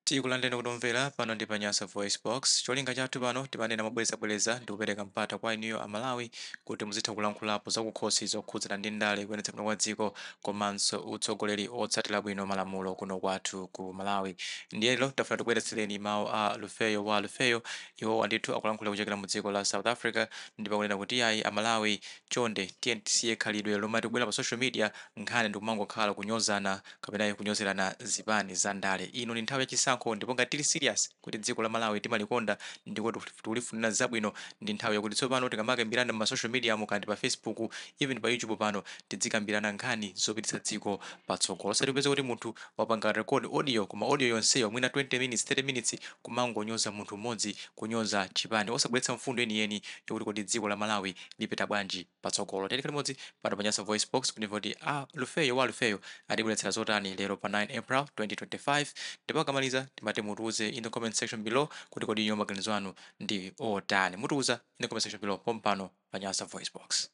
Tikulandeni okondwa omvera, pano ndi pa Nyasa VoiceBox. Cholinga chathu pano timanena mobwerezabwereza ndi kupereka mpata kwa inuyo a Malawi kuti muzitha kulankhulapo zakukhosi zokhudzana ndi ndale, kuyendetsa bwino kwa dziko komanso utsogoleri otsatira bwino malamulo kuno kwathu ku Malawi. Ndiye lero tafuna tikubweretsereni mawu a Lufeyo Wa Lufeyo. Iwowa ndithu akulankhulira kuchokera mu dziko la South Africa ndipo akunena kuti iyayi a Malawi chonde tiyeni tisiye khalidwe lomati kubwera pa social media nkhani ndikumangokhala kunyozana, kapena kunyozerana zipani za ndale. Ino ndi nthawi ya chisankho ndipo ngati tili serious kuti dziko la Malawi timalikonda ndipo tikulifunira zabwino ndi nthawi yakuti tsopano tikamakambirana mma social mediamu kaya ndi pa Facebook even pa YouTube pano tidzikambirana nkhani zopititsa dziko patsogolo osati kupeza kuti munthu wapanga record audio koma audio yonseyo mwina 20 minutes, 30 minutes kumangonyoza munthu mmodzi, kunyoza chipani osabweretsa mfundo yeniyeni yokuti kodi dziko la Malawi lipita bwanji. patsogolo tikhale limodzi pano pa nyasa voice box kuti timve kuti a lufeyo wa lufeyo atibweretsera zotani lero pa 9 april 2025 ndipo akamaliza timati mutiuze in the comment section below kuti kodi inuyo maganizo anu ndi otani mutiuza in the comment section below pompano pa nyasa voice box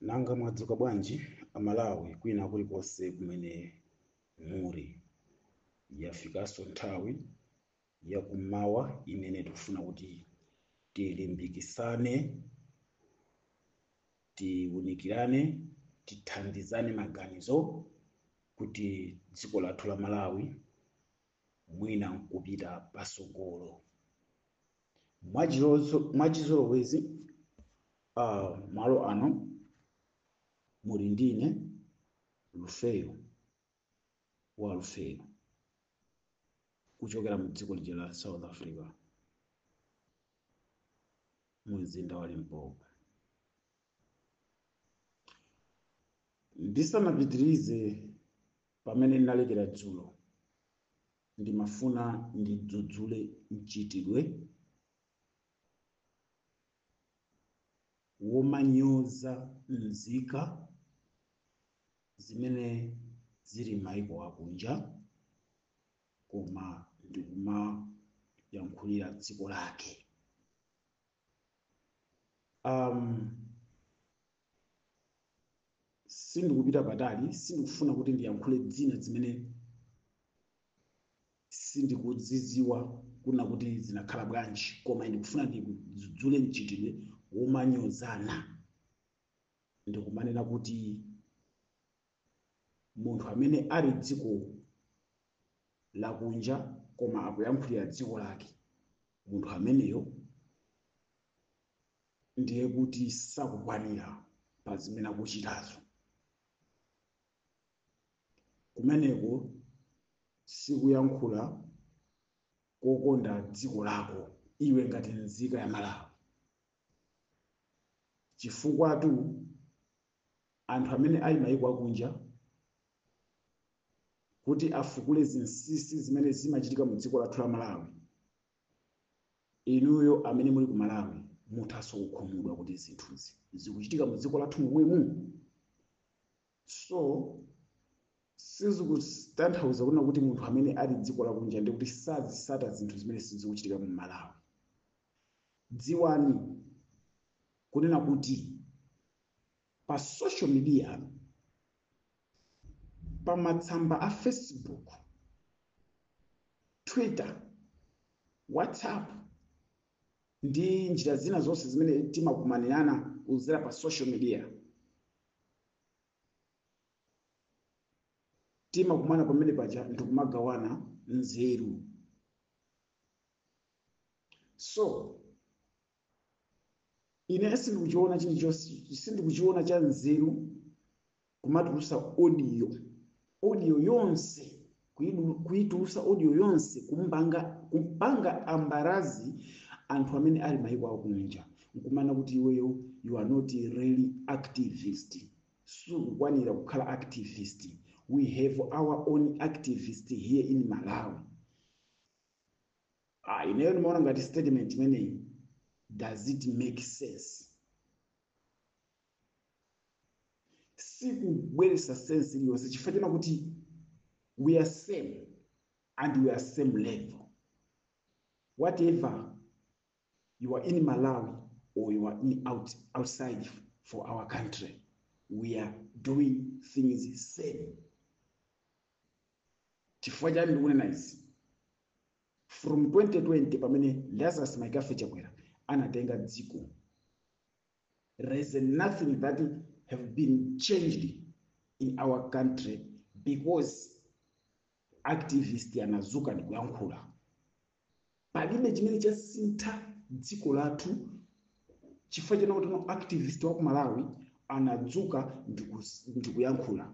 Nanga mwadzuka bwanji Amalawi kwina kulikonse kumene muri? Yafikaso nthawi yakummawa imene tikufuna kuti tilimbikisane, tiunikirane, tithandizane maganizo kuti dziko lathu la Malawi mwina nkupita pasogolo. Mwachizolowezi ah, malo ano muli ndine lufeyo wa lufeyo kuchokera mu dziko lija la south africa mu mzinda wa limpopo ndisanapitirize pamene ndinalekera dzulo ndimafuna ndidzudzule mchitidwe womanyoza nzika zimene zili m'mayiko akunja koma ndikumayankhulira dziko lake. Um, sindikupita patali sindikufuna kuti ndiyankhule zina zimene sindikudziziwa kunena kuti zinakhala bwanji koma ndikufuna ndidzudzule mchitidwe womanyozana ndikumanena kuti munthu amene ali dziko lakunja koma akuyankhulira dziko lake, munthu ameneyo ndiye kuti sakukwanira pa zimene akuchitazo. Kumeneko sikuyankhula kokonda dziko lako iwe ngati nzika ya Malawi, chifukwatu anthu amene ali mayiko akunja kuti afukule zinsinsi zimene zimachitika mu dziko lathu la Malawi, inuyo amene muli ku Malawi muthanso kukhumudwa kuti zinthuzi zikuchitika mu dziko lathu momwemu. So sizikutanthauza kunena kuti munthu amene ali dziko lakunja ndi kuti sazisata zinthu zimene sizikuchitika mu Malawi. dziwani kunena kuti pa social media pa matsamba a facebook twitter whatsapp ndi njira zina zonse zimene timakumanirana kuzera pa social media timakumana pamene paja ndikumagawana nzeru so ine sindikuchiona chilichonse sindikuchiona cha nzeru kumatulusa audio audio yonse kuidu- kuitulusa audio yonse kumpanga kumpanga embarrass anthu amene ali maiko akunja nkumanena kuti iweyo you are not really activist sukukwanira kukhala activist we have our own activist here in malawi ah, ineyo ndimaona ngati statement imeneyi does it make sense sikubweresa sense iliyonse chifukwa china kuti we are same and we are same level whatever you are in malawi or you are in out, outside for our country we are doing things same Chifukwa chani ndikunena izi? From 2020 pamene Lazarus McCarthy Chakwera anatenga dziko, there is nothing that have been changed in our country because activist anazuka ndikuyankhula. Palibe chimene chasintha dziko lathu chifukwa chonena kuti no activist wa ku Malawi anadzuka ndikus- ndikuyankhula.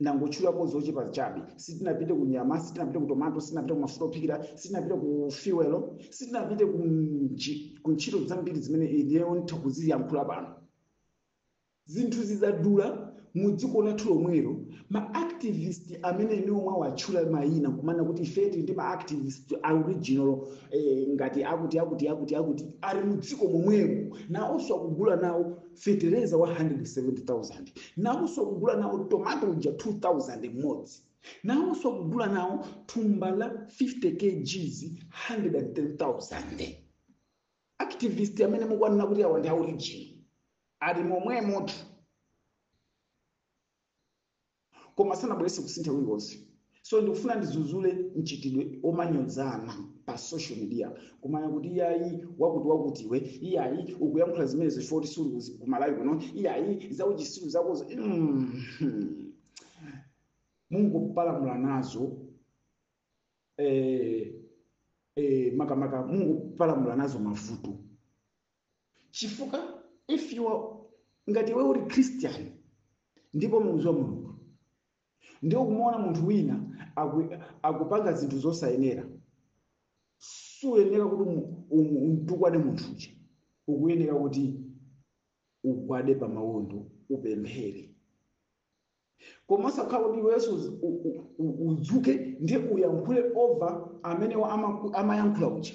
Ndangotchulapo zochepa chabe. Sitinapite ku nyama, sitinapite ku tomato, sitinapite ku mafuta ophikira, sitinapite ku fuel, sitinapite ku nji, ku ntchito zambiri zimene ineyo nditha kuziyankhula pano. Zinthu zidadula mu dziko lathu lomwelo. Ma activist amene inuyo mwawatchula mayina nkumanena kuti ife tili ndi ma activist a original eh, ngati akuti akuti akuti akuti ali mu dziko momwemo, nawonso akugula nawo fetereza wa 170,000 nawonso akugula nawo tomato uja 2,000 mmodzi nawonso akugula nawo thumba la 50 kgs 110,000 activist amene mukuwanena kuti awa ndi a original ali momwemotu koma sanabweretse kusintha kulikonse so ndikufuna ndizuzule mchitidwe omanyozana pa social media kumanena kuti iyayi wakuti wakutiwe iyayi ukuyankhula zimenezo chifukwa kuti suli ku Malawi kuno iyayi zauchitsiru zakozo mm. mungopalamula nazo eh, eh, makamaka mungopalamula nazo mavuto chifukwa if you are ngati iwe uli christian ndipo umamdziwa mulungu ndiye kumaona munthu wina aku, akupanga zinthu zosayenera suyenera kuti umu- umu- umtukwane munthu uja ukuyenera kuti ugwade pa mawondo upemphere koma osakhala kuti iwenso uzi- u- u- u- udzuke ndiye uyankhule over amene wa- amaku- amayankhula uja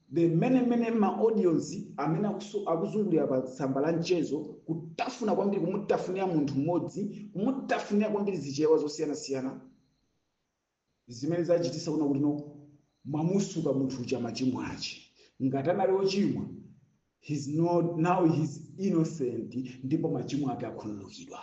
mmene mmene ma audios amene akusu- akuzungulira pa tsamba la mchezo kutafuna kwambiri kumutafunira munthu mmodzi kumutafunira kwambiri zichewa zosiyanasiyana zimene zachititsa kuna kuti no mwamutsuka munthu uja machimo ache ngati anali ochimwa he's not, now he's innocent ndipo machimo ake akhululukidwa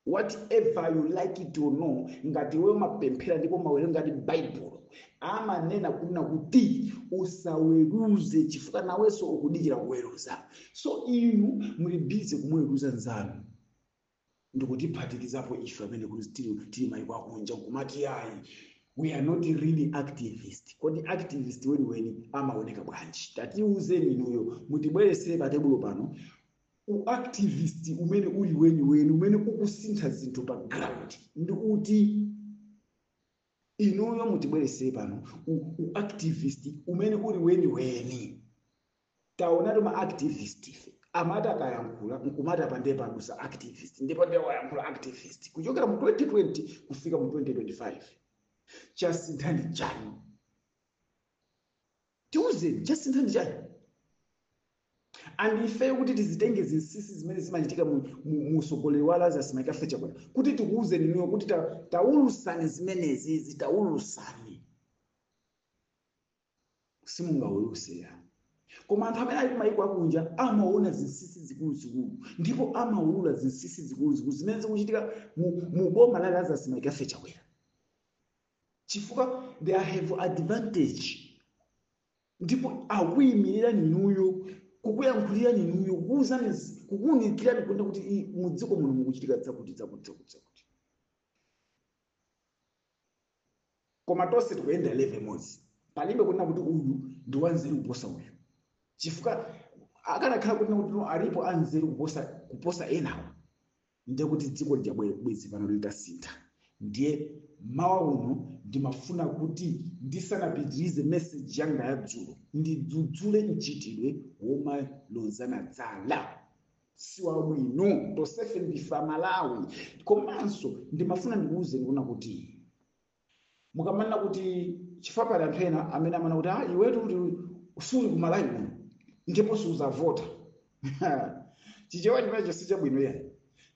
Whatever you like it or no, ngati iwe umapemphera ndipo umawerengadi Baibulo, amanena kunena kuti usaweruze chifukwa nawenso ukudikira kuweruza. So inu muli busy kumuweruza nzanu ndikutiphatikizapo ife amene kuti tili tili maiko akunja nkumati iyayi we are not really activist kodi activist weniweni amaoneka bwanji tatiuzeni inuyo mutibweretsere pa tebulo pano U activist umene uli weniweni umene ukusintha zinthu pa ground ndi uti? Inuyo mutibweretse pano u, u activist umene uli weniweni. Taonatu ma activist ife amati akayankhula nkumati apa ndiye padutsa activist ndipo ndiye wayankhula activist kuchokera mu 2020 kufika mu 2025 chasintha ndi chani? tiuzeni chasintha ndi chani and ifeyo kuti tidzitenge zinsinsi zimene zimachitika mu- mu- mu utsogoleri wa lazarus mccarthy chakwera kuti tikuuzeni inuyo kuti ta- taulusani zimenezizi taulusani simungaulutse iyayi koma anthu amene ali kumayiko akunja amaona zinsinsi zikuluzikulu ndipo amaulula zinsinsi zikuluzikulu zimene zikuchitika mu, mu boma la lazarus mccarthy chakwera chifukwa they have advantage ndipo akuyimirira ninuyo kukuyankhulira ninuyo kukuwuzani zi- kukuwunikirani kuona kuti i- mu dziko muno mukuchitika dzakuti dzakuti dzakuti dzakuti koma tonse tikuyenda level imodzi palibe kunena kuti uyu ndi wanzeru kuposa uyu chifukwa akanakhala kunena kuti no, alipo anzeru kuposa kuposa enawo ndiye kuti dziko lija bwe- bwezi pano litasintha ndiye mmawa uno ndimafuna kuti ndisanapitirize meseji yanga ya dzulo ndidzudzule mchitidwe womalozana dzala si wabwino tonsefe ndife amalawi komanso ndimafuna ndikuwuzeni kuti mukamanena kuti chifukwa pali anthu ena amene amanena kuti ah iwetu kuti suli kumalawi kuno ndipo suzavota chichewa chimenecho si chabwino ayi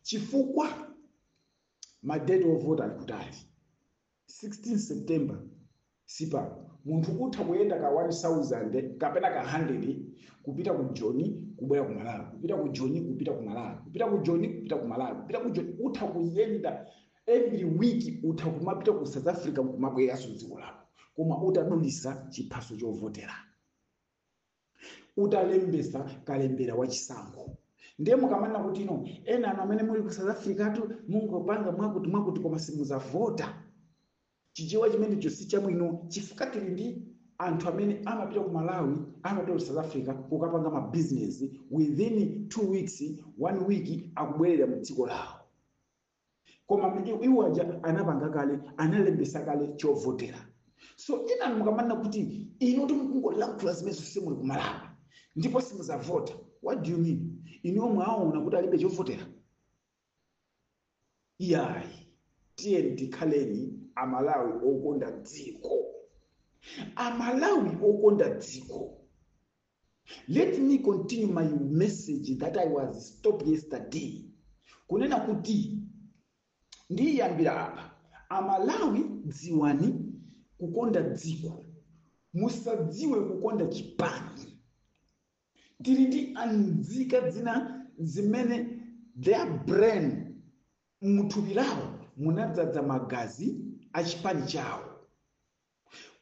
chifukwa madeti ovota ali kutali 16 september sipano munthu utha kuyenda ka 1000 kapena ka 100 kupita ku joni kubwera ku malawi kupita ku joni kupita ku malawi kupita ku joni kupita ku malawi kupita ku joni utha kuyenda Every week utha kumapita ku south africa nkumabwereranso mdziko lako koma utadulisa chiphaso chovotera. Utalembesa kalembera wa chisankho. Ndiye mukamanena kuti no enanu amene muli ku south africa tu mungopanga mwakuti mwakuti koma simuzavota. Chichewa chimenecho si chabwino chifukwa tili ndi anthu amene amapita ku malawi amapita ku south africa kukapanga ma business within two weeks one week akubwerera mdziko lawo. koma kuti iwo aja anapanga kale analembesa kale chovotera so enanu mukamanena kuti inu kuti mukungolankhula zimenezo simuli kumalawi ndipo simuzavota what do you mean inuyo mwaona kuti alibe chovotera iyayi tiyeni tikhaleni amalawi okonda dziko amalawi okonda dziko Let me continue my message that I was stopped yesterday kunena kuti ndiyambira apa amalawi dziwani kukonda dziko musadziwe kukonda chipani tili ndi anzika zina zimene their brain muthupi lawo munadzadza magazi a chipani chawo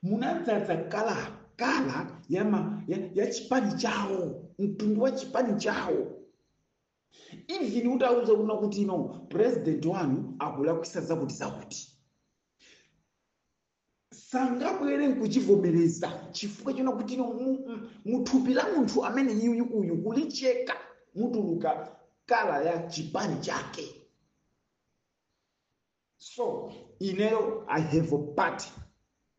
munadzadza kala kala ya, ma, ya, ya chipani chawo mtundu wa chipani chawo even utawauza kunena kuti no president wanu akulakwisa zakuti zakuti sangabwere nkuchivomereza chifukwa chonena kuti no mu- mu- muthupi la munthu amene uyuyu uyu kulicheka mutuluka kala ya chipani chake so ineyo i have a party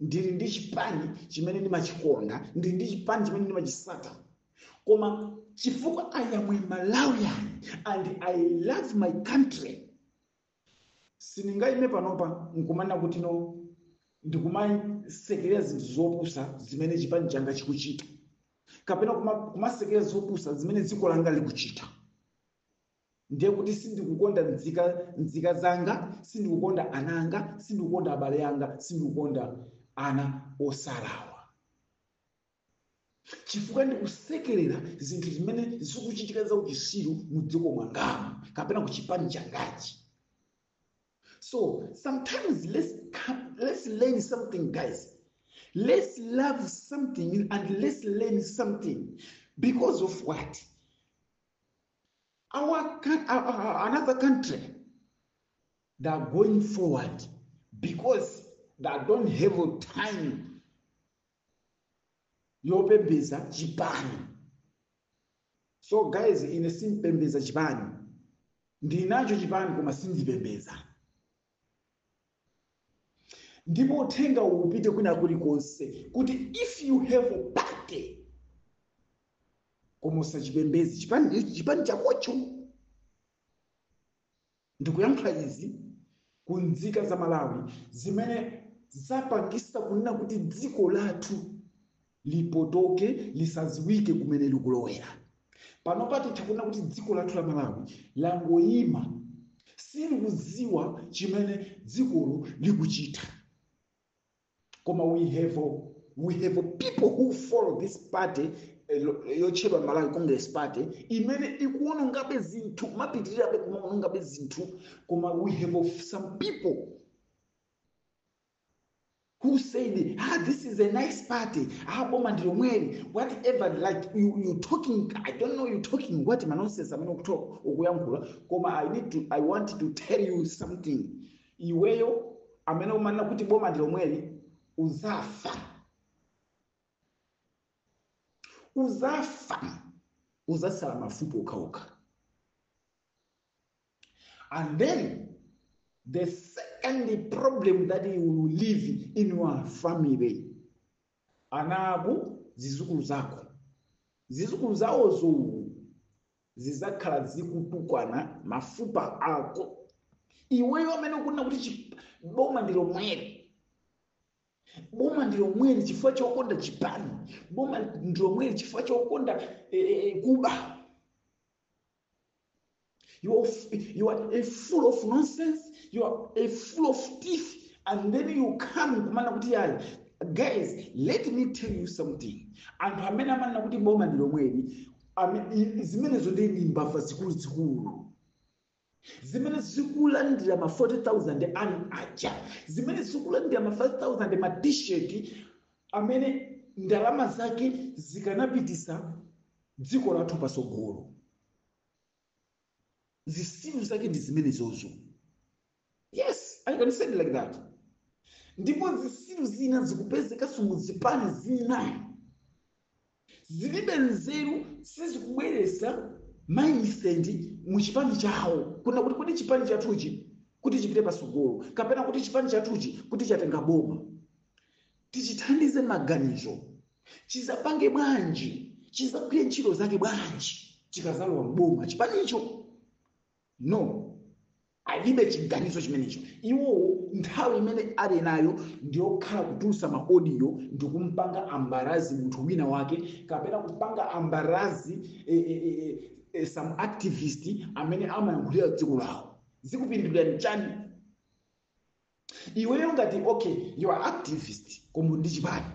ndili ndi chipani chimene ndimachikonda ndili ndi chipani chimene ndimachisata koma chifukwa i am a malawian and i love my country sindingaime panopa nkumanena kuti no ndikumasekerera zinthu zopusa zimene chipani changa chikuchita kapena kuma- kumasekerera zopusa zimene dziko langa likuchita ndiye kuti sindikukonda mdzika, mdzika zanga, sindikukonda ana anga, sindikukonda abale anga, sindikukonda ana osalakwa, chifukwa ndikusekerera zinthu zimene zikuchitika za uchisiru mu dziko mwangamu kapena ku chipani changachi. So sometimes let's come, let's learn something, guys. Let's love something and let's learn something because of what? our, coun- our, our- another country they are going forward because they don't have time yopembeza chipani so guys ine simpembeza chipani ndinacho chipani koma sindipembeza ndipo uthenga uwu upite kwina kulikonse kuti if you have a party koma usachipembedze chipani chipani chakocho ndikuyankhula izi ku nzika za malawi zimene zapangisa kunena kuti dziko lathu lipotoke lisadziwike kumene likulowera panopa titha kunena kuti dziko lathu la malawi langoyima silikudziwa chimene dzikolo likuchita koma we have a, we have a people who follow this party eh, lo- yotchedwa malawi congress party imene ikuonongabe zinthu napitirirabe kumaonongabe zinthu koma we have a- some people who said ah this is a nice party ah boma ndi lomweli whatever like you, you talking i don't know you talking what manonsense amene ukuto- ukuyankhula koma i need to i want to tell you something iweyo amene umanena kuti boma ndi lomweli uzafa uzafa uzasala mafupa okhaokha And then the second problem that you will leave in your family. Ana ako, zizukulu zako. Zizukulu zawozo zizakhala zikutukwana mafupa ako. Iweyo amene ukunena kuti chi- boma ndi lomweli. Boma ndi lomweli chifukwa chokonda chipani. Boma ndi lomweli chifukwa chokonda eh, eh, kuba. You are, f- you are a full of nonsense. You are a full of teeth. And then you come kumanena kuti yayi. Guys, let me tell you something. Anthu amene amanena kuti boma ndi lomweli, ame- i- zimenezo ndi ndi mbava zikuluzikulu. zimene zikulandira ma 40000 anu aja zimene zikulandira ma 5000 ma t-shirt amene ndalama zake zikanapitisa dziko lathu patsogolo zisiru zake ndi zimenezozo yes i can say it like that ndipo zisiru zina zikupezekanso mu zipani zina zilibe nzeru sizikubweretsa mindset mu chipani chawo kunena kuti kuti chipani chathuchi kuti chipite patsogolo kapena kuti chipani chathuchi kuti chikatenga boma tichithandize maganizo, chizapange bwanji, chizagwire ntchito zake bwanji chikazalowa mboma chipanicho. No, alibe chiganizo chimenecho. Iwowo nthawi imene ali nayo ndiyokhala kutulutsa maodiyo ndi kumpanga embarrass munthu wina wake kapena kupanga embarrass e, e, e, e, some activist amene amayankhulira dziko lawo zikupindulirani chani iweyo ngati okay you are activist komanso ndi chipani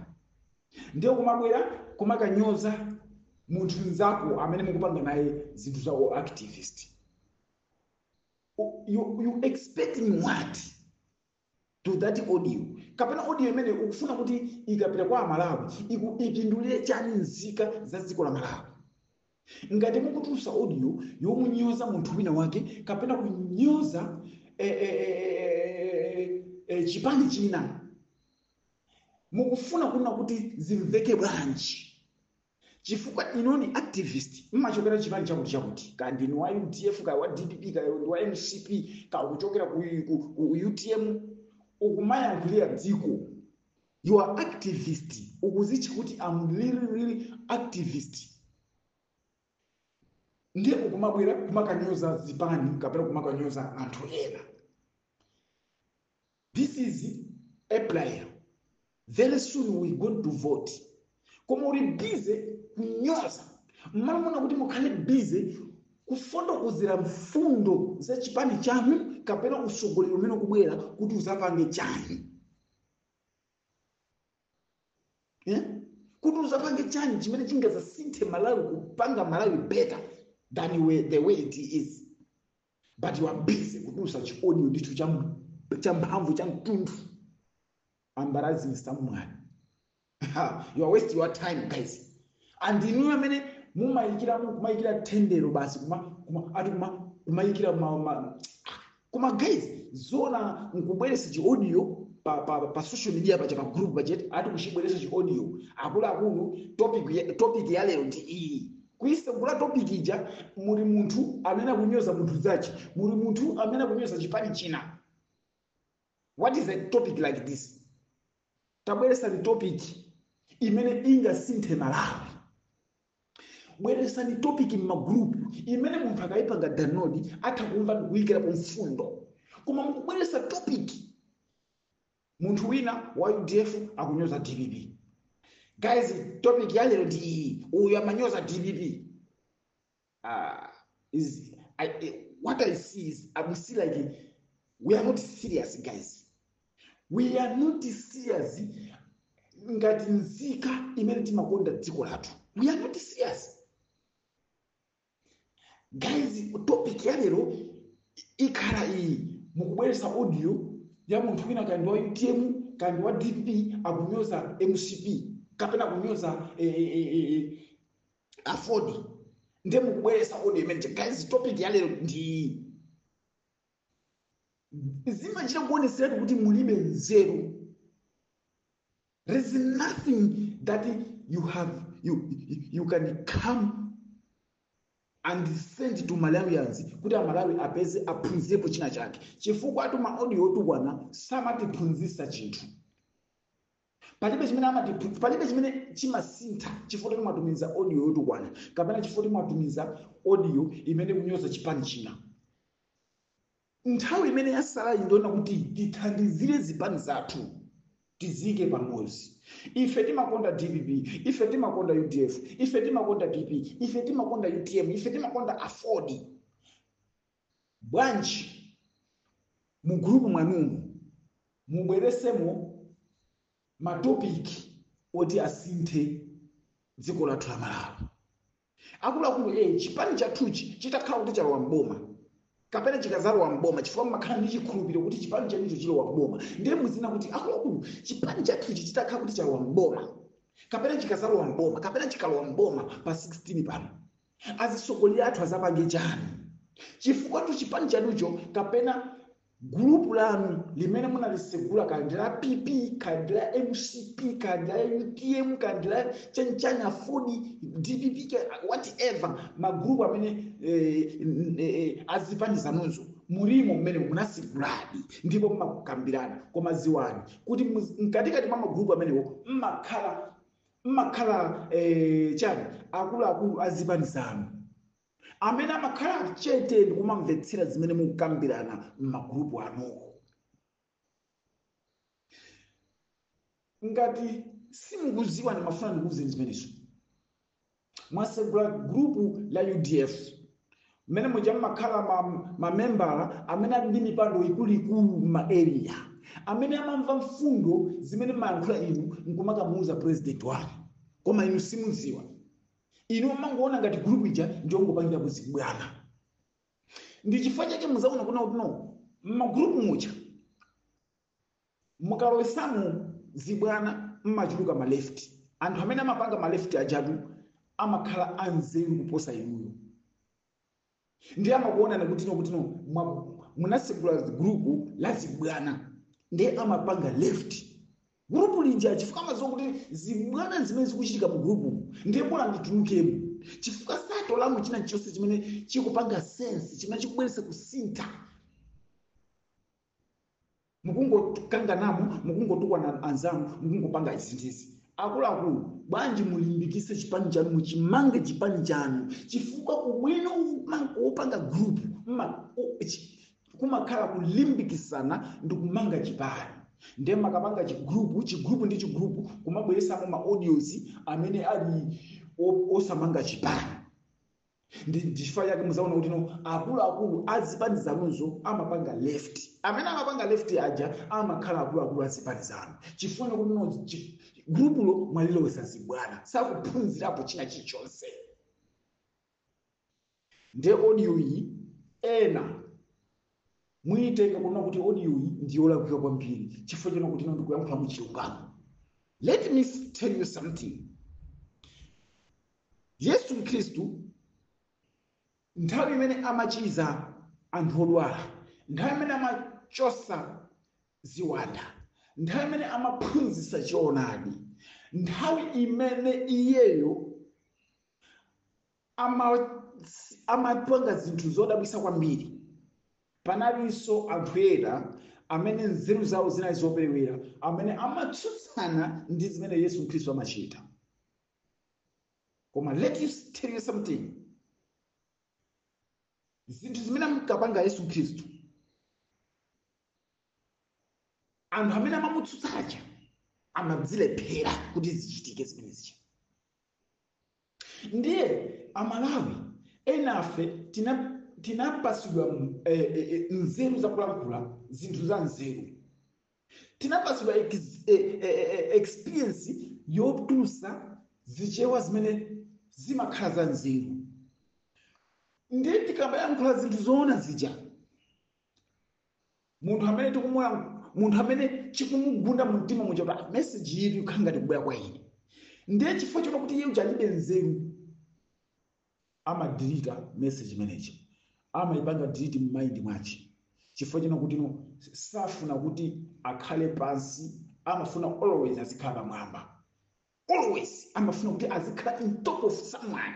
ndiye kumabwera kumakanyoza munthu nzako amene mukupanga naye zinthu za u activist U- you, you expecting what to that audio kapena audio imene ukufuna kuti ikapita kwa amalawi iku- ipindulire chani nzika za dziko la malawi Ngati mukutulutsa audio yomunyoza munthu wina wake kapena kunyoza eh, eh, eh, eh, chipani china mukufuna kunena kuti zimveke bwanji chifukwa inu ndi activist mmachokera chipani chakuti chakuti kaya ndinu wa udf kaya wa dpp kaya ndi wa mcp kaya kuchokera ku, ku, ku utm ukumayankhulira dziko you are activist ukuzitcha kuti am really really activist ndiye ukumabwera kumakanyoza zipani kapena kumakanyoza anthu ena this is april very soon we going to vote koma uli bize kunyoza mmalo monena kuti mukhale bize kufotokozera mfundo za chipani chanu kapena usogoleri umene ukubwera kuti uzapange chani Eh? kuti uzapange chani chimene chingazasinthe malawi kupanga malawi better than we, the way it is but you are busy kutulutsa chiodiyo ndicho cha- cha mphamvu cha mtundu embarrassing someone you are wasting your time guys and inuyo amene mumayikira kumayikira tendero basi kuma kuma ati kuma kumayikira ma, ma kuma guys zona nkubweresa chi audio pa, pa, pa social media pa cha pa group pachete ati kuchibweresa chi audio akuluakulu topic ya- topic ya lero ndi iyi kuisegula topic ija muli munthu amene akunyoza munthu zachi muli munthu amene akunyoza chipani china what is a topic like this tabweresani topic imene ingasinthe malawi bweresani topic m'magrupu imene munthu akayipanga download atha kumva ndikuyikirapo mfundo koma mukubweresa topic munthu wina wa udf akunyoza dpp guys topic yalero ndi iyi uyu amanyoza dpp uh, is I, I- what I see is I will see like we are not serious guys. We are not serious ngati nzika imene timakonda dziko lathu. We are not serious. Guys, topic ya lero ikhala iyi mukubweretsa audio ya munthu wina kandi wa UTM kandi wa DP akunyoza MCP kapena kunyoza eh, eh, eh, eh, aford nde mukubweresa audio imene ija guys topic ya lero ndi zimachita kuoneseratu kuti mulibe nzeru there is nothing that you have you, you can come and send to malawians kuti amalawi apeze aphunzirepo china chake chifukwa atu ma audio otukwana samatiphunzisa chinthu palibe chimene amatiphunzitsa palibe chimene chimasintha chifukwa choti timatumiza audio yotukwana kapena chifukwa kuti mwatumiza audio imene kunyoza chipani china nthawi imene yasalayi ndi yoona kuti tithandizire zipani zathu tizike pamodzi ife timakonda dpp ife timakonda udf ife timakonda pp ife timakonda utm ife timakonda aford Bwanji mu group mwanumu mubweresemo ma topic oti asinthe dziko lathu la Malawi. Akuluakulu A chipani chathuchi chitakhala kuti chalowa m'boma kapena chikazalowa m'boma chifukwa mumakhala ndi chikhulupiro kuti chipani chanucho chilowa m'boma ndiye muzinena kuti akuluakulu chipani chathuchi chitakhala kuti chalowa m'boma kapena chikazalowa m'boma kapena chikalowa m'boma pa 16 pano Azisogoleli athu azapange chani? Chifukwatu chipani chanucho kapena group lanu limene munalisegula kaya ndi la PP kaya ndi la mcp kaya ndi la utm kaya ndi la chanichani aford dpp kaya whatever ma group amene eh, n- eh, azipani zanuzo mulimo mmene munaseguladi ndipo mmakukambirana koma ziwani kuti muz- mkatikati mwa magrupu amenewo mmakhala mmakhala eh, chani akuluakulu a zipani zanu amene amakhala chete ndi kumamvetsera zimene mukukambirana m'magurupu anuwo ngati simukuziwa ndimafuna ndikuuzeni zimenezo Mwatsegula group la udf mmene muja mmakhala ma, ma membala amene ali ndi mipando ikuluikulu mma area amene amamva mfundo zimene mmayankhula inu nkumakamuuza president wanu koma inu simudziwa inu mmangoona ngati group ija ndiyongopangirako zibwana ndi chifukwa chake muzaona kunena kutino mmagroup muja mukalowesamo zibwana mmachuluka ma left anthu amene amapanga ma left ajatu amakhala anzeru kuposa inuyo ndiye amakuona kutino kutino mwa- munasegula gurupu la zibwana ndiye amapanga left gurupu linja chifukwa amaziwa kuti zibwana zimene zikuchitika mu gurupu ndiye bora nditulukemo chifukwa satolamo china chonse chimene chikupanga sense chimene chikubweretsa kusintha mukungokanganamo mukungotukwana anzanu mukungopanga izi ndi izi akuluakulu bwanji mulimbikitse chipani chanu muchimange chipani chanu chifukwa ubwino wopang- wopanga group mma- u- chi- kumakhala kulimbikitsana ndi kumanga chipani ndiye mukapanga chigrupu chigrupu ndi chigrupu kumabweresamo ma audios amene ali o- osamanga chipani ndi chifukwa chake muzaona kutino akuluakulu azipani zanuzo amapanga left amene amapanga left aja amakhala akuluakulu azipani zanu chifukwa kutino chi- gulupulo mwalilowesa zibwana sakuphunzirapo china chilichonse nde audio iyi ena Muyitenga kunena kuti audio yi ndiyolakwika kwambiri chifukwa chonena kutino ndikuyankhula mu chilungamo. Let me tell you something. Yesu Khristu nthawi imene amachiza anthu odwala, nthawi imene amachosa ziwanda, nthawi imene amaphunzitsa choonadi, nthawi imene iyeyo ama amapanga zinthu zodabwitsa kwambiri panalinso anthu ena amene nzeru zawo zinali zoperewera amene amatsutsana ndi zimene yesu khristu amachita koma let me tell you something zinthu zimene amkapanga yesu khristu anthu amene amamutsutsa aja amadzilephera kuti zichitike zimenezi ndiye amalawi enafe tina- tinapasidwa mm, eh, eh, eh, nzeru zakulankhula zinthu za nzeru tinapasidwa ex- eh, eh, eh, eh, experience yotulutsa zichewa zimene zimakhala za nzeru ndiye tikamayankhula zinthu zoona zija munthu amene tikumulang- munthu amene chikumugunda mu mtima muja kuti ah, message iyi ikukhala ngati kubwera kwa ine ndiye chifukwa chonena kuti iye uja alibe nzeru amadelete message maneja amayipanga delete m'mind mwache chifukwa chonena kuti no safuna kuti akhale pansi amafuna always azikhala pamwamba always amafuna kuti azikhala in top of someone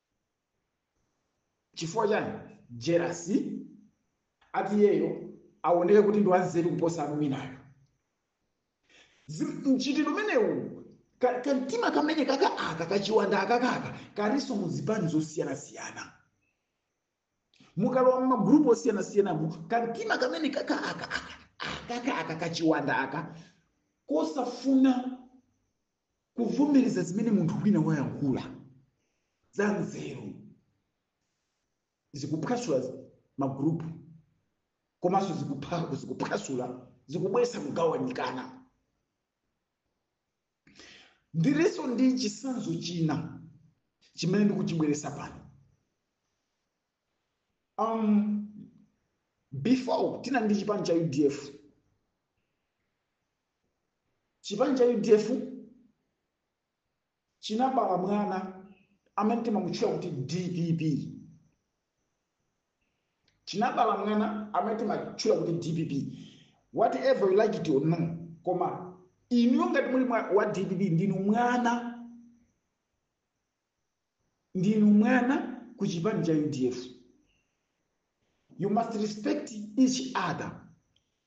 chifukwa chani jealousy ati iyeyo aoneke kuti ndi wanzeru kuposa anthu enawo Zim- mchitidwe umenewu ka- kamtima kamene kaka aka kachiwanda akakaka kalinso mu zipani zosiyanasiyana mukalowa mmagrupu osiyanasiyanamo kamtima kamene kaka aka aka akaka aka kachiwanda aka kosafuna kuvomereza zimene munthu wina wayankhula za nzeru zikuphwasula magurupu komanso zikupha- zikuphwasula zikubweresa kugawanikana ndilinso ndi chisanzo china chimene ndikuchibweresa pano um, before tinali ndi chipani cha udf chipani cha udf chinabala mwana amene timamutchula kuti dpp chinabala mwana amene timamutchula kuti dpp whatever you like it or no koma inuyo ngati muli mwa- wa dpp ndinu mwana ndinu mwana ku chipani cha udf you must respect each other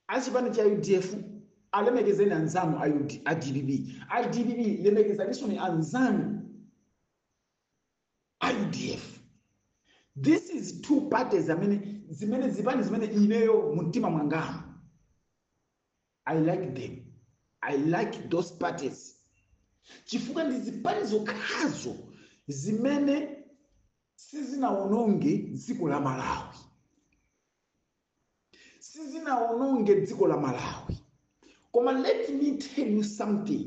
achipani cha udf alemekezeni anzanu a UD a dpp a dpp lemekezaninso ni anzanu a udf this is two parties amene zimene zipani zimene ineyo mumtima mwangamu i like them i like those parties chifukwa ndi zipani zokhazo zimene sizinawononge dziko la malawi sizinawononge dziko la malawi koma let me tell you something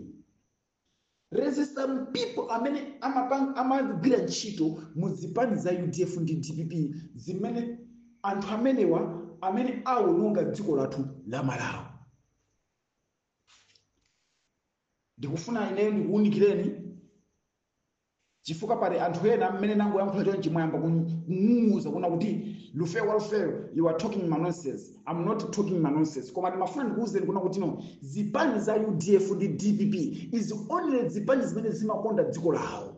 there's some people amene amapanga amagwira ntchito mu zipani za udf ndi dpp zimene anthu amenewa amene awononga dziko lathu la malawi ndikufuna ineyo ndikuwunikireni chifukwa pali anthu ena mmene nangoyankhula chonchi mwayamba kung'ung'uza kuna kuti Lufeyo Lufeyo you are talking manonsense I am not talking manonsense koma ndimafuna ndikuwuzeni kuna kuti no zipani za udf ndi dpp is only zipani zimene zimakonda dziko lawo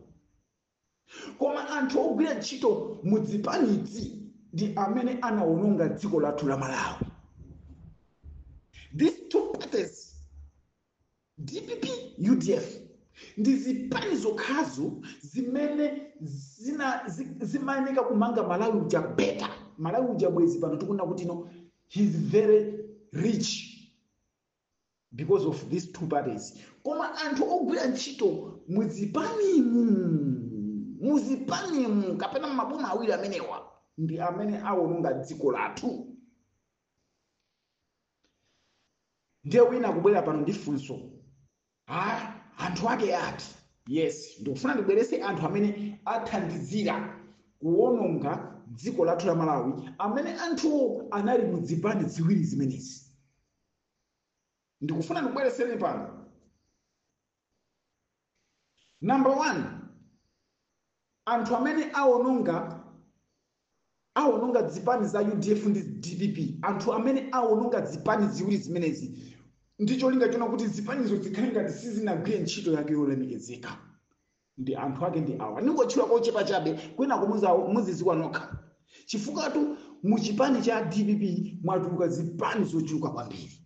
koma anthu ogwira ntchito mu zipanizi ndi amene anawononga dziko lathu la malawi these two parties dpp udf ndi zipani zokhazo zimene zina zi- zimayeneka kumanga malawi uja better malawi uja bwezi pano tikunena kuti no he's very rich because of these two parties koma anthu ogwira ntchito muzipanimu muzipanimu kapena maboma awiri amenewa ndi amene awononga dziko lathu ndiye wina kubwera pano ndi funso ah, anthu ake ati yes ndikufuna ndibwerese anthu amene athandizira kuwononga dziko lathu la malawi amene anthu anali mu zipani ziwiri zimenezi ndikufuna ndikubwereseni pano Number one, anthu amene awononga awononga zipani za udf ndi dpp anthu amene awononga zipani ziwiri zimenezi ndi cholinga chona kuti zipanizo zikhale ngati sizinagwire ntchito yake yolemekezeka ndi anthu ake ndi awa ndingotchula kochepa chabe kwina kumuzawo muziziwa nokha chifukwatu mu chipani cha dpp mwatuluka zipani zochuluka kwambiri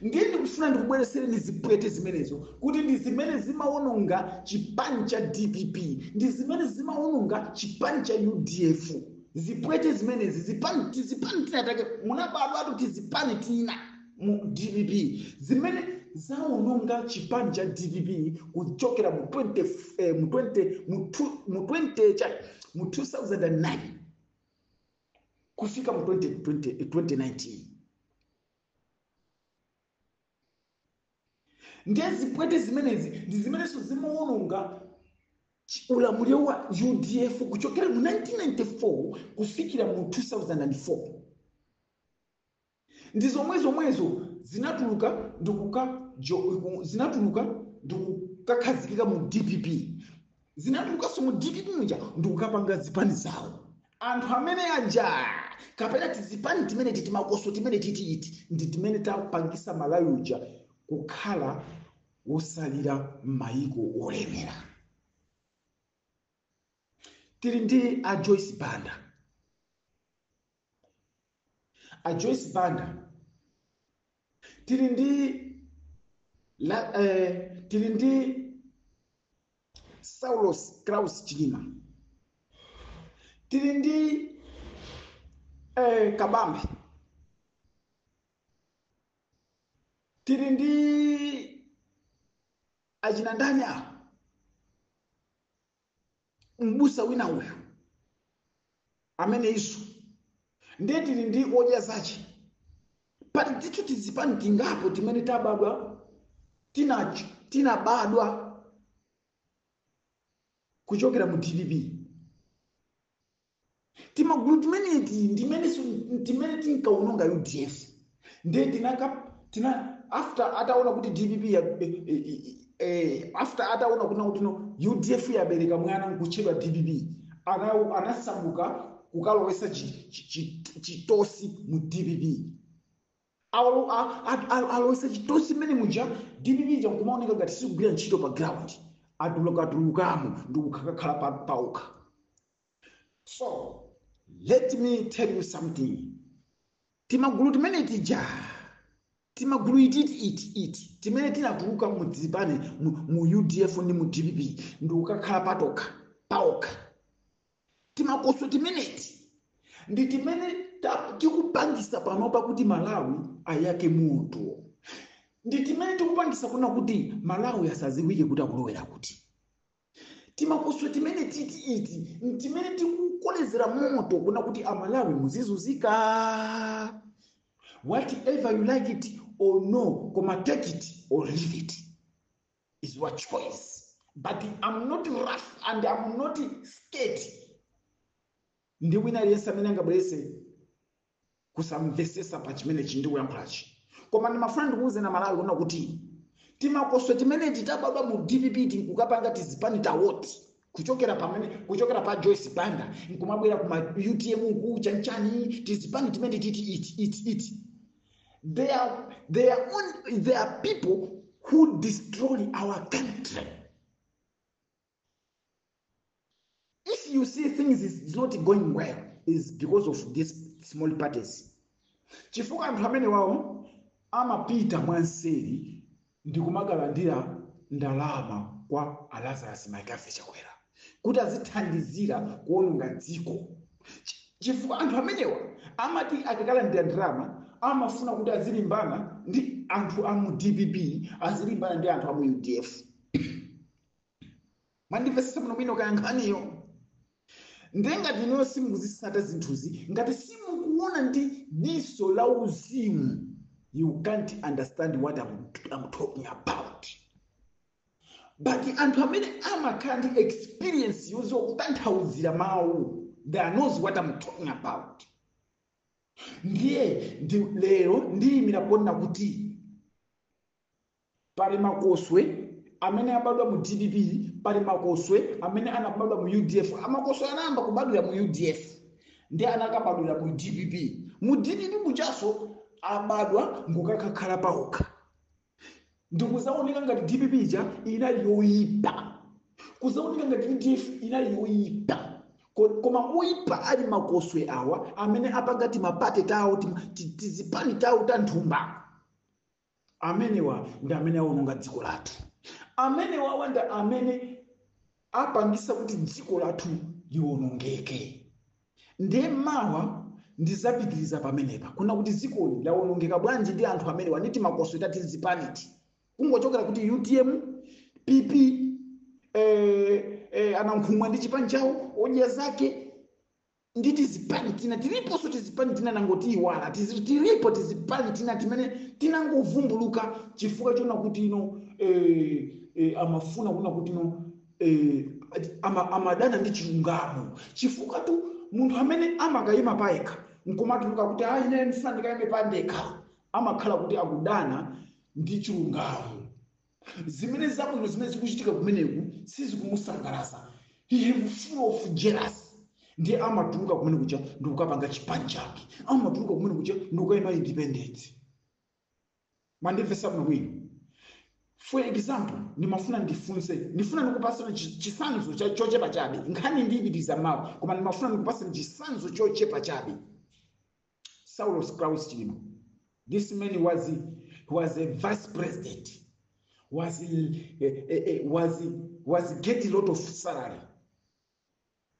ndiye ndikufuna ndikubweresereni zipwete zimenezo kuti ndi zimene zimawononga chipani cha dpp ndi zimene zimawononga chipani cha udf zipwete zimenezi zipani tizipani tinatake munabadwatu tizipani tina mu dpp zimene zawononga chipani cha dpp kuchokera mu 20 eh, mu 20 mu two- mu 20 cha mu 2009 kufika mu 20, 20, 2019 ndiye zipwete zimenezi ndi zimenenso zimawononga chi- ulamuliro wa udf kuchokera mu 1994 kufikira mu 2004 ndi zomwezomwezo zinatuluka ndikuka jo- ku- zinatuluka ndikukakhazikika mu dpp zinatulukanso mu dpp muja ndikukapanga zipani zawo anthu amene aja kapena tizipani timene ti timakoswe timene titiiti ndi timene tapangisa malawi uja kukhala wosalira m'mayiko olemera tili ndi a joyce banda a joyce banda tili ndi la, eh, tili ndi saulos klaus chilima tili ndi eh, kabambe tili ndi achina ndani awo mbusa wina uyu ameneyinso ndiye tili ndi odya zake pali tithu tizipani tingapo timene tabadwa tinacho tinabadwa kuchokera mu dpp timagulu timeneti ndimenenso timene tinkaononga udf nde tinaka tina after ataona kuti dpp ya, eh, eh, eh, eh, after ataona kuti kuti no udf yabereka mwana nkutchedwa dpp ana- anasamuka kukalowesa chi- chi- chi- chitosi mu dpp Alo- a- a- a- alowesa chitosi mmene muja dpp ija nkumaoneka ngati sikugwira ntchito pa ground atulukatulukamo ndi kukakhala pa- paokha so let me tell you something timagulu timene tija timagulu ititi iti iti timene tinatuluka mu zipani mu, mu udf ndi mu dpp ndi kukakhala patokha paokha timakoswe timeneti ndi timene ta- tikupangisa panopa kuti malawi ayake moto ndi timene tikupangisa kunena kuti malawi asaziwike kuti akulowera kuti timakoswe timeneti ti iti ntimene tikukolezera moto kunena kuti amalawi muzizuzika whatever you like it or no koma take it or leave it it's your choice but i'm not rough and i'm not scared ndi wina aliyense amene angabwerese kusamvesesa pa chimene ndikuyankhulachi koma ndimafuna ndikuwuzeni amalawi kunena kuti timakoswe timene titabadwa mu dpp nkukapanga tizipani tawo ti kuchokera pamene kuchokera pa joyce banda nkumabwera kuma utm uku chanchani tizipani timeneti ti iti iti iti they are, they are, on, they are people who destroy our country if you see things is, is not going well is because of these small parties chifukwa anthu amenewawa amapita mwanseri ndi kumakalandira ndalama kwa alazarus mccarthy chakwera kuti azithandizira kuononga dziko Chi- chifukwa anthu amenewa amati akakalandira ndalama amafuna kuti azilimbana ndi anthu a mu dpp azilimbana ndi anthu a mu udf mwandimvetsetsa muno mwina kaya nkhaniyo ndiye ngati inuyo simukuzisata zinthuzi ngati simukuona ndi diso la uzimu you can't understand what I'm, I'm talking about but anthu amene amakhala ndi experience yoziwa kutanthauzira mawu they knows what I'm talking about ndiye ndi lero ndiyimira kunena kuti Pali makoswe amene abadwa mu dpp, pali makoswe amene anabadwa mu udf. Makoswe anayamba kubadwira mu udf ndi anakabadwira mu dpp. Mu dpp mujaso abadwa nkukakhala paokha ndikuzaoneka ngati dpp ija inali yoyipa, kuzaoneka ngati udf inali yoyipa Ko- koma oyipa ali makoswe awa amene apanga timaparty tawo tim- ti- tizipani tawo ta nthumba Amenewa ndi amene awononga dziko lathu. Amenewawa ndi amene apangisa kuti dziko lathu liwonongeke. Ndiye mawa ndizapitiliza pamenepa kunena kuti ziko lawonongeka bwanji ndi anthu amenewa ndi timakoswe ta tizipaniti. Kungochokera kuti utm, PP, eh, eh, anankhumwa ndi chipani chawo, odya zake, ndi tizipani tina, tiliponso tizipani tina ndangotiyiwala tizi, tilipo tizipani tina timene tinangovumbuluka chifukwa chonena kuti ino eh, eh, amafuna kunena kuti ino eh, ama, amadana ndi chilungamo chifukwatu munthu amene amakayima payekha nkumatuluka kuti ayi ine ndifuna ndikayime pandekha amakhala kuti akudana ndi chilungamo zimene zabwino zimene zikuchitika kumeneku sizikumusangalatsa he have full of jealous ndiye amatuluka kumene kuja ndikukapanga chipani chake amatuluka kumene kuja ndikukayima independent mwandimvesa bwino bwino for example ndimafuna ndifunse ndifuna ndikupaseni chi- chisanzo cha- chochepa chabe nkhani ndiyipitiliza mawa koma ndimafuna ndikupaseni chisanzo chochepa chabe Saulos Klaus Chilima. This man was a, was a vice president, was a, a, a, a- was a, was a get a lot of salary.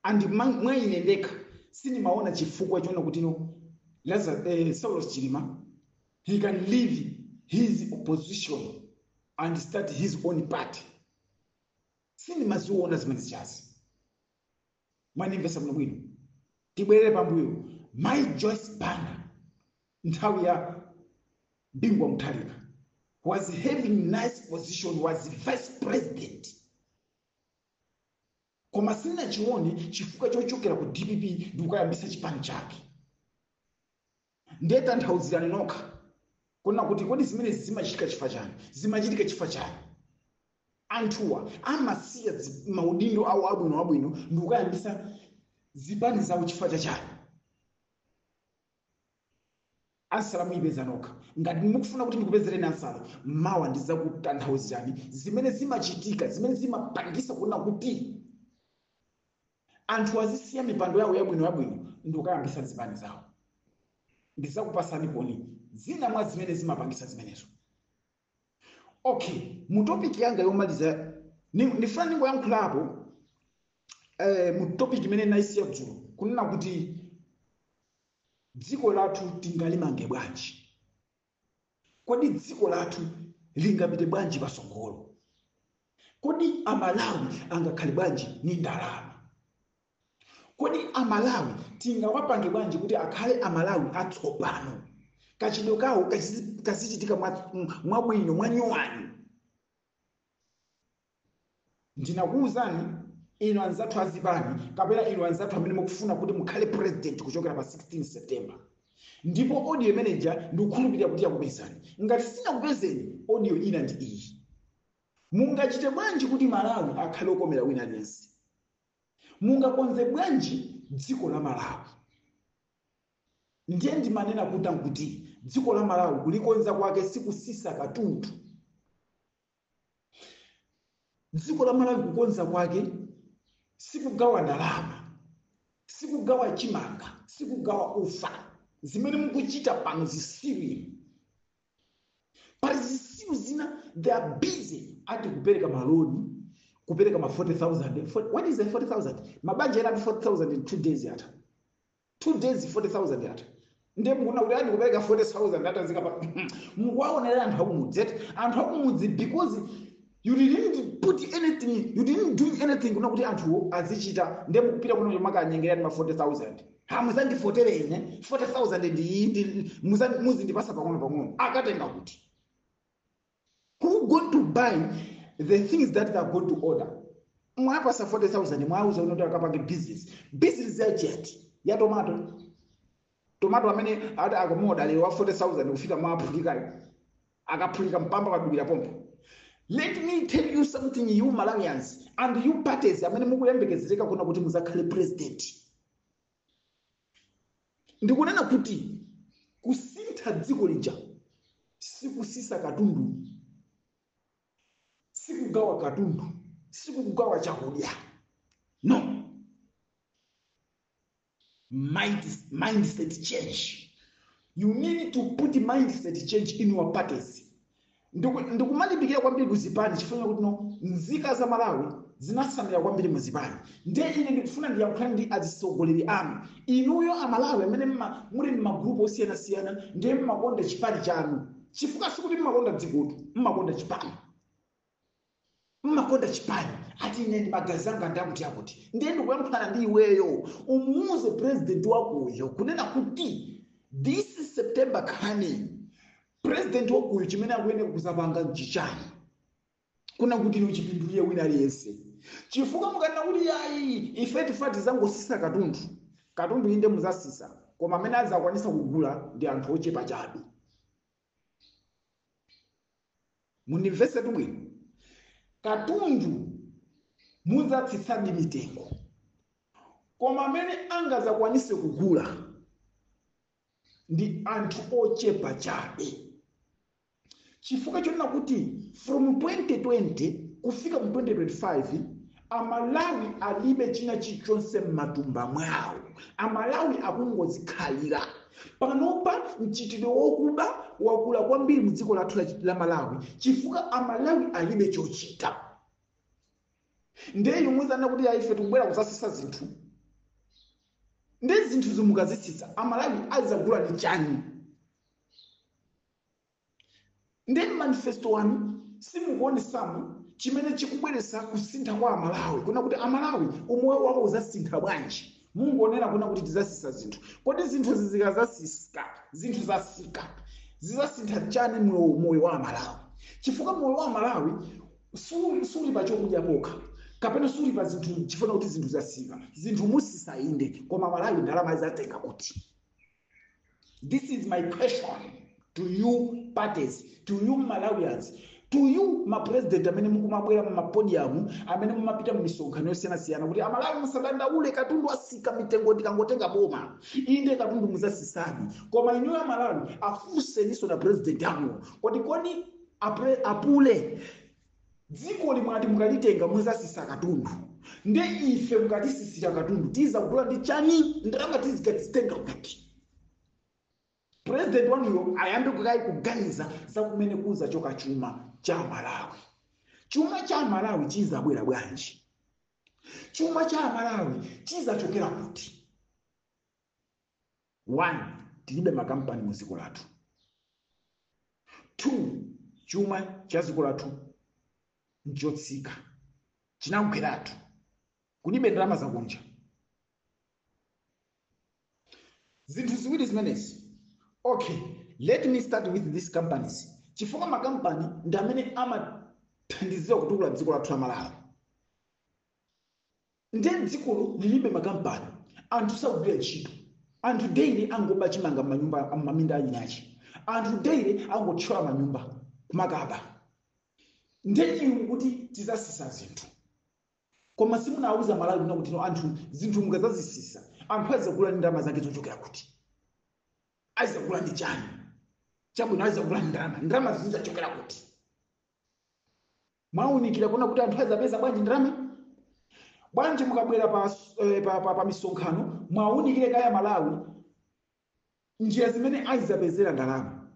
And ma- mwa ine ndekha sindimaona chifukwa choona kuti no Lazarus, eh, Saulos Chilima he can leave his opposition and start his own party. Sindimaziona zimene zichazi. mwandimvesa bwino bwino tibwerere pambuyo mai joyce banda nthawi ya bingu wa mutharika was having nice position was vice president koma sinnachione chifukwa chochokera ku dpp ndikukayambisa chipani chake Ndiye tanthauzirani nokha kunena kuti kodi zimene zimachitika chifukwa chani? Zimachitika chifukwa chani? Anthuwa amasiya zi- maudindo awo abwino abwino ndi kukayambisa zipani zawo chifukwa cha chani? ansala muyipeza nokha ngati mukufuna kuti ndikupezereni ansala mawa ndizakutanthauzirani zimene zimachitika zimene zimapangisa kunena kuti Anthu azisiya mipando yawo yabwino yabwino ndikukayambisa zipani zawo. Ndizakupasani pano zina mwa zimene zimapangisa zimenezo. Ok, mu topic yanga yomaliza, ndifuna ndingoyankhulapo mu topic imene ndinayisiya dzulo, kunena kuti dziko lathu tingalimange bwanji. Kodi dziko lathu lingapite bwanji patsogolo? Kodi Amalawi angakhale bwanji ni ndalama? Kodi Amalawi tingawapange bwanji kuti akhale Amalawi atsopano, kachitidwe kawo kazichitika mwabwino, mwanyuwani? ndinakuwuzani inu anzathu azipani kapena inu anzathu amene mukufuna kuti mukhale president kuchokera pa 16 september ndipo audio imeneja ndikukhulupirira kuti yakupezani ngati sinakupezeni audio ina ndi iyi mungachite bwanji kuti malawi akhale okomera wina aliyense mungakonze bwanji dziko la malawi ndiye ndimanena kuti kuti dziko la malawi kulikonza kwake sikusisa katundu dziko la malawi kukonza kwake sikugawa ndalama sikugawa chimanga sikugawa ufa zimene mukuchita pano zisiru pali zisiru zina they are busy ati kupereka maloni kupereka ma 40000 Fort- what is the 40000 mabanja ena ati 40000 in two days yatha 2 days 40000 yatha ndiye mukunena kuti ati kupereka 40000 yatha zikatha mukuwaonera anthu akumudzi eti anthu akumudzi because you didn't put anything you didn't do anything kunena kuti anthuwo azichita ndiye mukupita kukomakawanyengera ndi ma 40000 ha muzandivotere ine 40000 ndi iyi ndi- muzan- muzindipasa pang'ono pang'ono akatenga kuti Who going to buy the things that they are going to order? Mwapasa 40,000 mwauza kunena kuti akapange business. Business ya geni ya tomato. Tomato amene ati akamuoda lero wa 40,000 kufika mwaphulika akaphulika mpamba kadubira pompo. Let me tell you something you Malawians and you parties amene mukuyembekezereka kunena kuti muzakhale president. ndikunena kuti kusintha dziko lija sikusisa katundu sikugawa katundu sikugawa chakudya no Mind, mindset change you need to put mindset change in your parties Ndiku, ndikumalimbikira kwambiri ku zipani chifukwa chakuti ino nzika za Malawi zinasamira kwambiri mu zipani ndiye ine ndikufuna ndiyankhulane ndi azitsogoleri anu inuyo amalawi amene mma- muli mmagrupu osiyanasiyana ndiye mmakonda chipani chanu chifukwa sikuti mmakonda dzikotu mmakonda chipani mmakonda chipani ati ine ndi magazi anga ndi akuti akuti ndiye ndikuyankhulana ndi iweyo umuuze president wakuyo kunena kuti this september coming president wakuyo chimene akuyenera kuzapanga nchichani kunena kuti ino chipindulire wina aliyense chifukwa mukanena kuti ayi ife tifuna tizangosisa katundu katundu inde muzasisa koma amene azakwanisa kugula ndi anthu ochepa chabe mundimvesetse bwino katundu muzatsitsadi mitengo koma amene angazakwanise kugula ndi anthu ochepa chabe chifukwa chonena kuti from 2020 kufika mu 2025 Amalawi alibe china chilichonse mmatumba mwawo. Amalawi akungozikhalira. Panopa mchitidwe wokuba wakula kwambiri mu dziko lathu la, la Malawi chifukwa Amalawi alibe chochita. Ndiye inu muzanena kuti ayi ife tikubwera kuzasisa zinthu. Ndiye zinthu zo mukazitsitsa Amalawi azagula ndi chani? Ndiye manifesto wanu simukuonesamo chimene chikubweretsa kusintha kwa amalawi kunena kuti amalawi umoyo wawo uzasintha bwanji mungonena kunena kuti tizasisa zinthu kodi zinthu zikazasika zinthu zasika zizasintha chani moyo moyo wa amalawi chifukwa moyo wa amalawi suli suli pa chokudya pokha kapena suli pa zinthu chifukwa kuti zinthu zasika zinthu musisa inde koma amalawi ndalama azatenga kuti This is my question to you parties, to you Malawians, to you ma president amene mukumabwera mumapodium amene mumapita mumisonkhano yosiyanasiyana kuti amalawi musadandaule katundu asika mitengo ndikangotenga boma inde katundu muzasisani koma inuyo amalawi afunseniso ma president anuwo kodi kodi apre- apule dzikoli mwati mukalitenga muzasisa katundu nde ife mukatisisira katundu tizakugula ndi chani ndalama tizikazitenga kuti president wanuyo ayambe kukayi kuganiza za kumene kuzachoka chuma cha amalawi chuma cha amalawi chizabwera bwanji chuma cha amalawi chizachokera kuti 1 tilibe makampani mu dziko lathu 2 chuma cha dziko lathu nchotsika chinagweratu kulibe ndalama zakunja zinthu ziwiri zimenezi okay let me start with these companies chifukwa makampani ndi amene amathandizira kutukula dziko lathu la malawi Nde dzikolo lilibe makampani, anthu sakugwira ntchito, anthu daily angoba chimanga mmanyumba mmaminda anyachi, anthu daily angothyola manyumba kumakaba, nde inu mukuti tizasisa zinthu. Koma simunawauze amalawi kunena kuti no anthu zinthu mukazazisisa anthu azizagula ndi ndalama zake zochokera kuti? Azizagula ndi chani? Chabwino azizagula ndi ndalama, ndalamazo zizachokera kuti? Mwaunikira kunena kuti anthu adzapeza bwanji ndalama? Bwanji mukabwera pa, eh, pa, pa, pa misonkhano muwaunikire kaye aMalawi njira zimene azidzapezera ndalama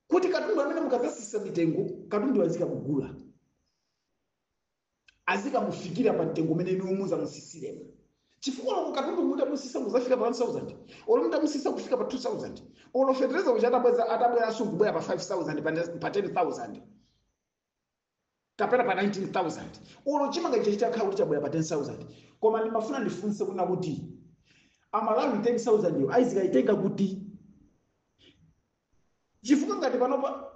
kuti katundu amene mukadzasisa mitengo katundu azikamugula azikamufikira pa mtengo umene inuyo muzamusisiremo chifukwa oloko katundu mutamusisa kuzafika pa 1000 olo mutamusisa kufika pa 2000 olo fetereza uja atabweza atabweranso kubwera pa 5000 pa 10000 kapena pa 19000 olo chimanga chija chitakhala kuti chabwera pa 10000 koma ndimafuna ndifunse kunena kuti amalawi 10000 yo azikayitenga kuti chifukwa ngati panopa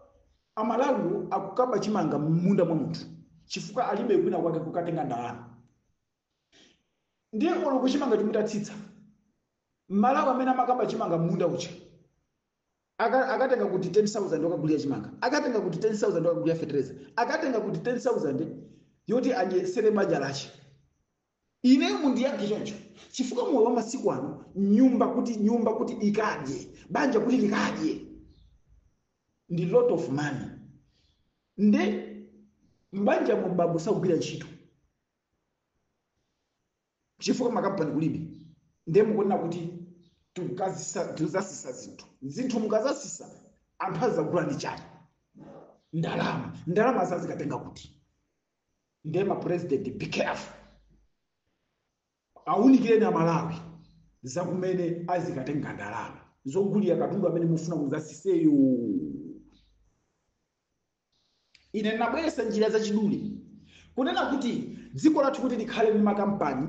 amalawiwo akukaba chimanga m'munda mwa munthu chifukwa alibe kwina kwake kukatenga ndalama ndiye oloko chimangachi mutatsitsa mmalawi amene amakaba chimanga m'munda uja Aka, akatenga kuti 10000 yokagulira chimanga akatenga kuti 10000 yokagulira fetereza akatenga kuti 10000 yoti adyetsere banja lake ineyo mundiyankhe choncho chifukwa moyo wa masiku ano nyumba kuti nyumba kuti ikadye banja kuti likadye ndi lot of money nde mbanja mu bambo sakugwira ntchito chifukwa makampani kulibe ndiye mukunena kuti tikukazisa- tikuzasisa zinthu zinthu mukazasisa anthu azagula ndi chani ndalama ndalamazo azikatenga kuti ndiye mapurezidenti be careful awunikireni amalawi zakumene azikatenga ndalama zogulira katundu amene mufuna muzasiseyo ine ndabweretsa njira zachidule kunena kuti dziko lathu kuti likhale ndi makampani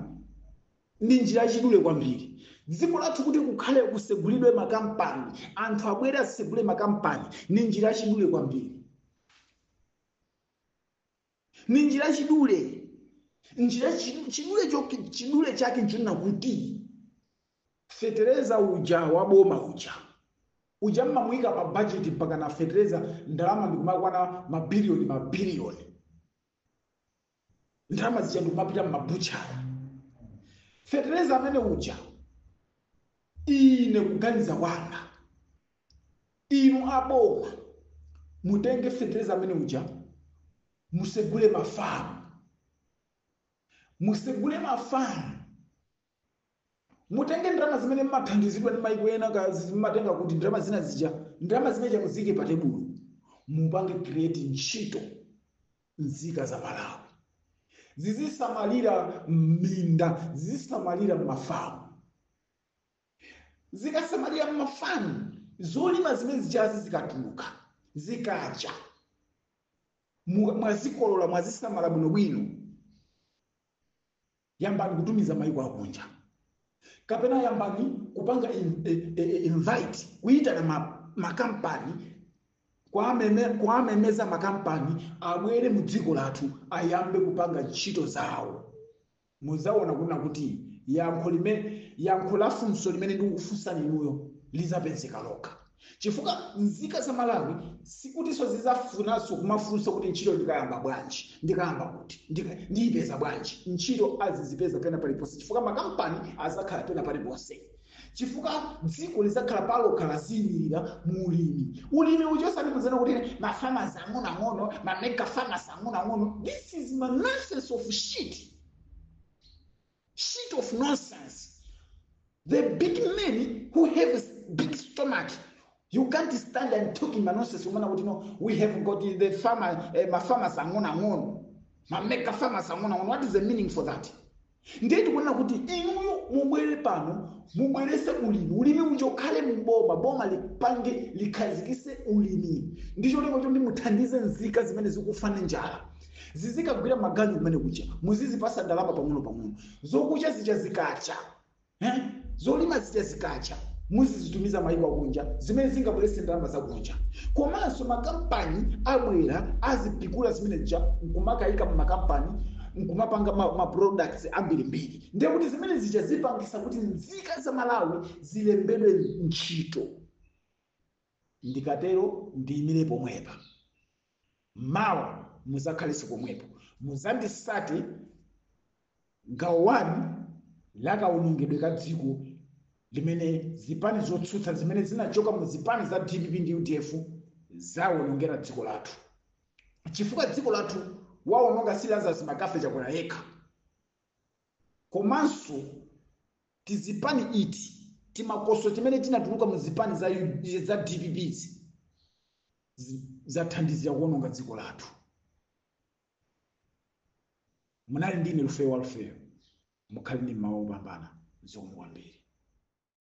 ndi njira yachidule kwambiri dziko lathu kuti kukhale kusegulidwe makampani anthu abwere asegule makampani ndi njira yachidule kwambiri ndi njira yachidule njira chi- chidule choki- chidule chake nchonena kuti Fetereza uja wa boma uja. Uja mmamuika pa budget mpaka na fetereza ndalama ndikumakwana ma billion ma billion. Ndalama zija ndikumapita mma butchery. Fetereza amene uja ine kuganiza kwanga inu aboma mutenge fetereza amene uja musegule mafamu musegule mafamu mutenge ndalama zimene mmathandizidwa ndi maiko ena ka zi- mmatenga kuti ndalama zina zija ndalama zimene zija muziike pa tebulo mupange create ntchito nzika za malawi zizisamalira minda zizisamalira mafamu zikasamalira mafamu zolima zimene zijazi zikatuluka zikacha mu- mwazikolola mwazisamala bwinobwino Yambani kutumiza maiko akunja kapena yambani kupanga in, e, e, e invite kuyitana ma, makampani kuwamemeza makampani abwere mu dziko lathu ayambe kupanga ntchito zawo muzaona kuna kuti yankho limene yankho la funso limene ndikufunsani inuyo lizapezeka lokha chifukwa nzika za malawi sikutinso zizafunanso kumafunsa kuti ntchito ndikayamba bwanji ndikayamba kuti ndika- ndiyipeza bwanji ntchito azizipeza pena paliponse chifukwa makampani azakhala pena paliponse chifukwa dziko lizakhala palokha laziyimirira mu ulimi ulimi uchosani kuzanena kuti ma farmers ang'onoang'ono ma mega farmers ang'onoang'ono this is ma nonsense of shit Shit of nonsense. The big men who have s- big stomach, you can't stand and talking ma nonsense kumanena kuti no, we have got the farmer, eh, ma farmers ang'ono ang'ono. Ma mega farmers ang'ono ang'ono. What is the meaning for that? ndiye tikuona kuti inuyo mubwere pano mubwerese ulimi ulimi uja ukhale muboma boma lipange likhazikise ulimi ndi cholinga choti muthandize nzika zimene zikufa ndi njala zizikagwira maganyu kumene kuja muzizipasa ndalama pang'onopang'ono zokucha zija zikacha eh? zolima zija zikacha muzizitumiza mayiko akunja zimene zingabwerese ndalama zakunja komanso makampani abwera azipikula zimene zija nkumakayika mmakampani nkumapanga ma, ma products ambirimbiri ndiye kuti zimene zija zipangisa kuti nzika za malawi zilembedwe ntchito Ndikatero ndiyimire pomwepa. Mawa muzakhalenso pomwepo. Muzandisate Gawo 1 la kawonongedwe ka dziko limene zipani zotsutsa zimene zinachoka mu zipani za dpp ndi udf zawonongera dziko lathu. Chifukwa dziko lathu wawononga si Lazarus McCarthy Chakwera yekha. komanso tizipani iti timakoswe timene tinatuluka mu zipani za dpp izi zathandizira kuononga dziko lathu munali ndine lufeyo wa lufeyo mukhale ndi mmawa opambana zomwe kwambiri